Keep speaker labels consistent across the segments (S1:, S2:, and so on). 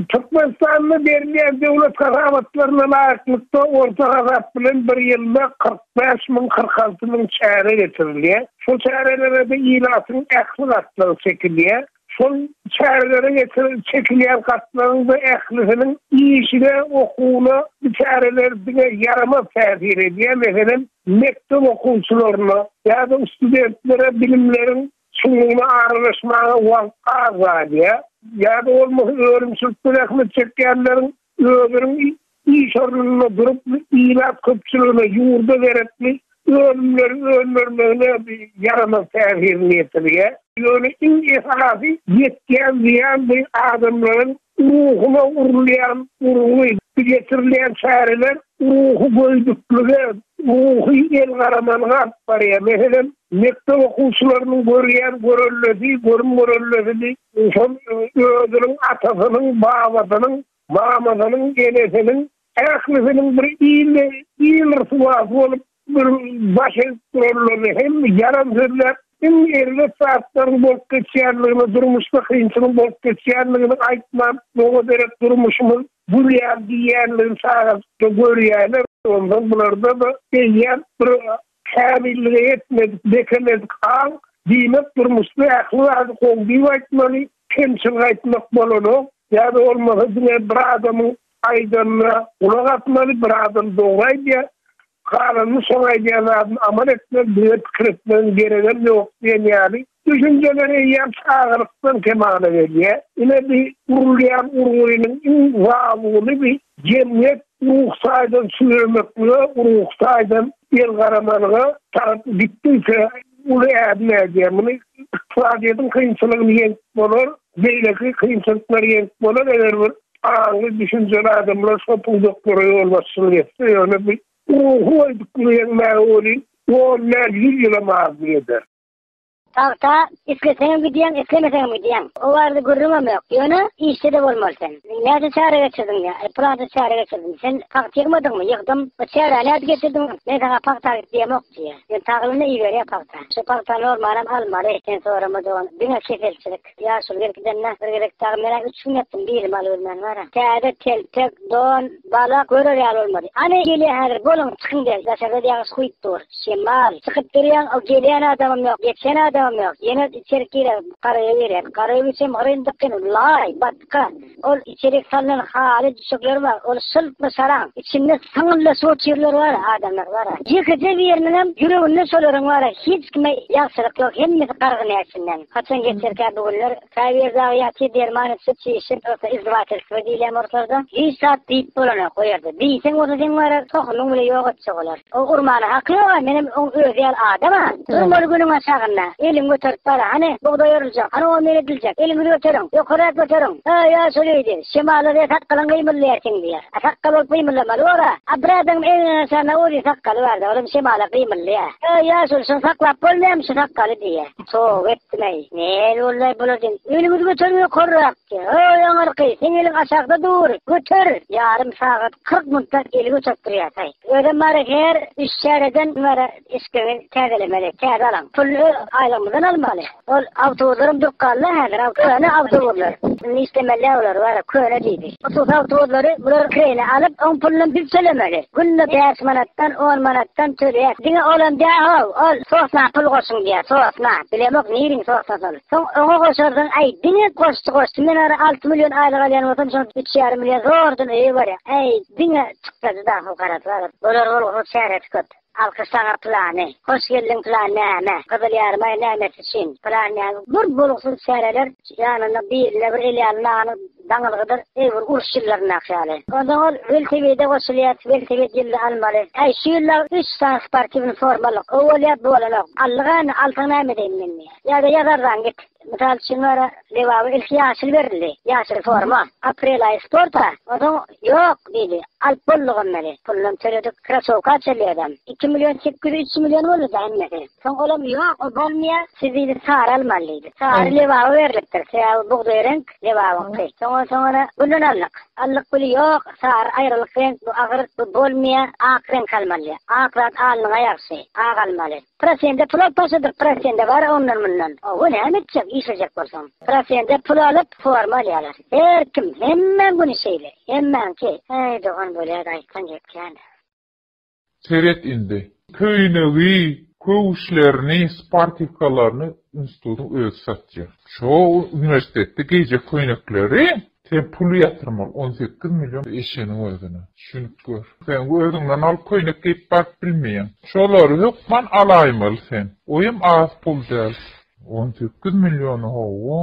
S1: Türkmenistanda berilýän döwlet hasabatlaryna laýyklykda, orta hasap bilen bir ýylda kyrk bäş müň, kyrk alty müň çäre geçirilýär. Şol çärelere-de ilatyň ähli gatlagy çekilýär. Şol çärelere geçirilip çekilýän gatlagyň-da ählisiniň işine, okuwyna bu çäreler diňe ýaramaz täsir edýär. Meselem, Mekdep okuwçylaryna ýa-da studentlere bilimleriň çuňlugyna aralaşmaga wagt az galýar, ýa-da bolmasa önümçilikde zähmet çekýänleriň özüniň iş ornunda durup, ilat köpçüligine ýurda gerekli önümleri öndürmegine ýaramaz täsirini ýetirýär. Ýöne iň esasy ýetýän zyýan bu adamlaryň ruhuna urulýan urgy. Bu geçirilýän çäreler Ruhy göýdüklige, ruhy elgaramalyga alyp barýar. Meselem, mekdep okuwçylarynyň görýän görellesi, görüm-görellesini şol özüniň atasynyň, babasynyň, mamasynyň, enesiniň, ählisiniň bir il, il ryswasy bolup, Bir baş egip duranlaryny hem ýalan sözläp, iň erbet zatlaryň bolup geçýändigini, durmuşda kynçylygyň bolup geçýändigini aýtman, doga derek durmuşymyz gülýär diýýändigini çagajykda görýärler. Onsoň bularda-da eýýäm bir kämillige ýetmedik, bekemedik aň. Diýmek, durmuşda ähli zady gowy diýip aýtmaly, kemçilik aýtmak bolanok. Ýa-da bolmasa diňe bir adamyň Aýdanyna gulak asmaly bir adam dogry aýdýar galanyny şoň aýdýan zadyny amal etmeli düýe pikir etmegiň geregem ýok diýen ýaly düşünjeler eýýäm çagalykdan kemala gelýär ine bi gurulýan gurgunyň iň zabuny bi jemgyýet ruh taýdan çüwremeklige ruh taýdan el garamalyga tarap gitdiyse uly ädim ädýär muny ykdysadyýetiň kynçylygyny ýeňip bolar. Beýleki kynçylyklar ýeňip bolar, eger bir aňly, düşünjeli adamlar şol pudaklara ýolbaşçylyk etse, ýöne bu ruhy goýduklygy ýeňmäge welin on däl, ýüz ýylam azlyk eder. Tagta
S2: isleseňem gidýäň, islemeseňem gidýäň. O barada gürrüňem ýok. Ýöne işde-de bolmaly sen. Näçe çäre geçirdiň diýýär. Aý, pylança çäre geçirdim. Sen tagt ýygmadyňmy? Ýygdym. Bu çäräni nädip geçirdiň? Men saňa pagta git diýemok diýýär. Ýöne taglymda iberýär pagta. Şu pagta normalam almaly sen sorama dogan diňe keselçilik ýaşuly gelip gidende bir gezek dagy menä üç gün ýatdym bilim alybermän wara täze telpek don bala görer ýaly bolmady ane gelýä häzir boluň çykyň del daşarda ýagyş guýup dur şemal çykyp durýaň o gelýän adamam ýok geçen adamam ýok ýene içerik girer garaýa girýän garaýa üçem hyryndyk ýene laý batga Ol içerik salynan haly düşekleri bar. Ol şylply şarap. Içinde syňylla suw çirler bar. Adamlar bar. Ýekeje biriniňem ýüreginde şolaryň bar. Hiç kime ýagşylyk ýok. Hemmesi gargyny äçinden. Haçan geçerkä bu günler? Käbir dagy ýatyr derman içip, çişip, ýogsa izdywatelstwo diýilýän ortalarda. Hiç zat diýip bolanok o ýerde. Diýseň bolsa seň barar tohumyň bile ýok etjek olar. O urmana haky ýoga, menem oň özi ýaly adam a. Durmaly günüň aşagynda. Eliňi göterip bara, hany, bugdaý oruljak, hany ony men ediljek, eliňizi göteriň, ýokarak göteriň. Aý-a, şol öýdi. Şemala diýer sakgalyň gymyldaýar seň diýer. A sakgal bolup gymyldamaly bor-a. A bir adamyň egniniň aşagynda uzyn sakgaly bardy, olam şemala gymyldaýar. Aý-a, şol, şony saklap bolmaýamy şu sakgaly diýer. Toba etdim-eý, näme boldular bular diýen. Eliňizi göteriň ýokarak. Ýa-ow, ýaňyrky, seň eliň aşakda dur, göter! Ýarym sagat, kyrk minutdan eli göterip durýartaý. Özem bary her üç çäreden bäri eşikleňi täzelemeli, täze alaň. Puly öz aýlygymyzdan almaly. Ol awtobuslarym durup galdy-a häzir, köne awtobuslar. Indi işlemeli-ä olar, wara, köne diýdi. Hususy awtobuslary bular kireýine alyp, oň pulunam biz tölemeli. Günde bäş manatdan, on manatdan töleýäs. Diňe olam dä-ow, ol sosna pul goşuň diýýär, sosna. Bilemok, niriniň sosnasy ol. Soň oňa goşarsyň, äý, diňe goşçy goşçy, men ara alty million aýlyk alýan bolsam, şonda üç ýarym million zordan öýe barýar, äý, diňe çykdajy dagy fukarasy alyp, bular bolgusyz çäresi köp. Alkyş saňa plany, hoş geldiň plan näme, gyzyl ýarymaý nämesi üçin, plan näme, bir bolgusyz çäreler, ýanynda birine bir el ýaly nagly daňylgydyr, eý bir uruş ýyllaryndaky ýaly. Onsoň ol weltewide goşulýar, weltewid ýylda almaly, äý, şu ýyl dagy üç sany sportiwny forma alyk, o bolýar, bu bolanok, Allygany, alsaň näme edeýin men diýýär. Ýa-da ýazardan git. Mysal üçin bara Lebaba ilki ýaşyl berildi. Ýaşyl forma. Aprel aýy sporta. Onsoň ýok diýdi. Alyp boldugam meni. Pulunam töledik. Krasowka çelýädem. Iki million sekiz ýüz üç million bolduda hemmesi. Soň olam ýok ol bolmaýa. Siz diýdi sary almaly diýdi. Sary Lebaba berlipdir. Sebäbi bugdaý reňk Lebabyňky. Soň onsoň ony gülden aldyk. Aldyk güli ýok. Sary aýralyk reňk bu agyr bu bolmaýa. Ak reňk almaly. Ak zat alnyňa ýagşy. Ak almaly. Prosende pul alyp başladyk, prosende bar ondan-mundan. Oho, näme etjek, işlejek bolsaň. Prosende pul alyp, forma alýarlar. Her kim, hemmäň güni şeýle. Hemmäňki, äý, dogan bolýa-da aýtsaň gep kän.
S3: Seret indi. Köýnegi, köwüşlerini, sportiwkalaryny institutyň özi satýar. Şo uniwersitetde geýjek köýnekleri Sen pul ýatyrmaly on sekiz million eşegiň özüne. Şuny gör. Sen özüňden alyp köýnek geýip baryp bilmeýäň. Şolary hökman alaýmaly sen. Oýam az pul däl. On sekiz milliony hawa.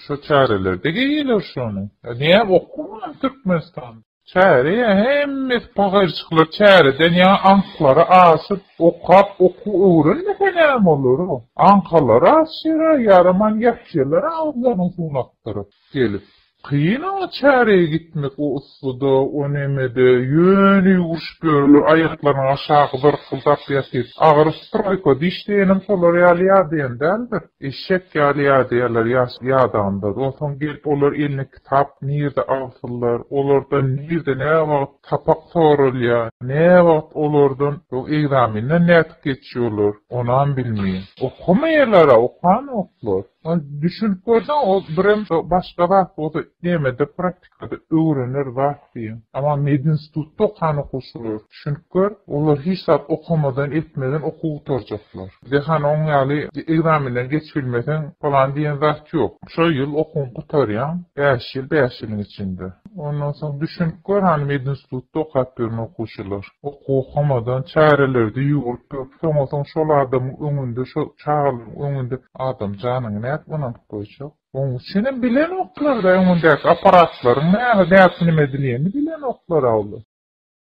S3: Şo çärelerde geýýäler şony. Näme okuwmy türkmenistanda. Çäre ýa hemmesi pahyryçyklar çäreden ýa aňklary aşyp okap okuw öwrenmese näme bolar o. Aňkalary aşýara ýaraman ýatýalar agyzlaryny suwuny akdyryp gelip. Kyn oňa çäreye gitmek o yssyda o nemede ýöne ýüwürişip ýörler aýaklarynyň aşagy zyrkyldap ýatyp agyryp troýka diş diýenem şolar ýaly ýadaýan däldir eşek ýaly ýadaýarlar ýadanda onsoň gelip olar eline Tap nirde agtylar, olardan nirde näwagt sapak soralýa, näwagt olardan bu ekzamenden nädip geçýolar, onam bilmeýin. Okamaýalara okanoklar. Ol düşünip görseň ol birem başga zat bolsa nemede praktikada öwrener zat diýen. Ama medinstitutda okan okuwçylar. Çünki olar hiç zat okamadan, etmeden okuw gutarjaklar. Bizde hany oň ýaly ekzamenden geçibilmeseň falan diýen zat ýok. Şu ýyl okuwyňy gutarýaň, bäş ýyl, bäş ýylyň içinde. Ondan soň düşünip gör hany medinstitutda okap ýören okuwçylar. Okuw okamadan çärelerde ýüwürip ýörüp, soňa-soň şol adamyň öňünde, şo çagalaryň öňünde adam janyňy nädip ynanyp goýjak? Oň üçinem bilenoklar-da öňündäki apparatlaryň näme, nädip neme edilýänini bilenoklar-a olar.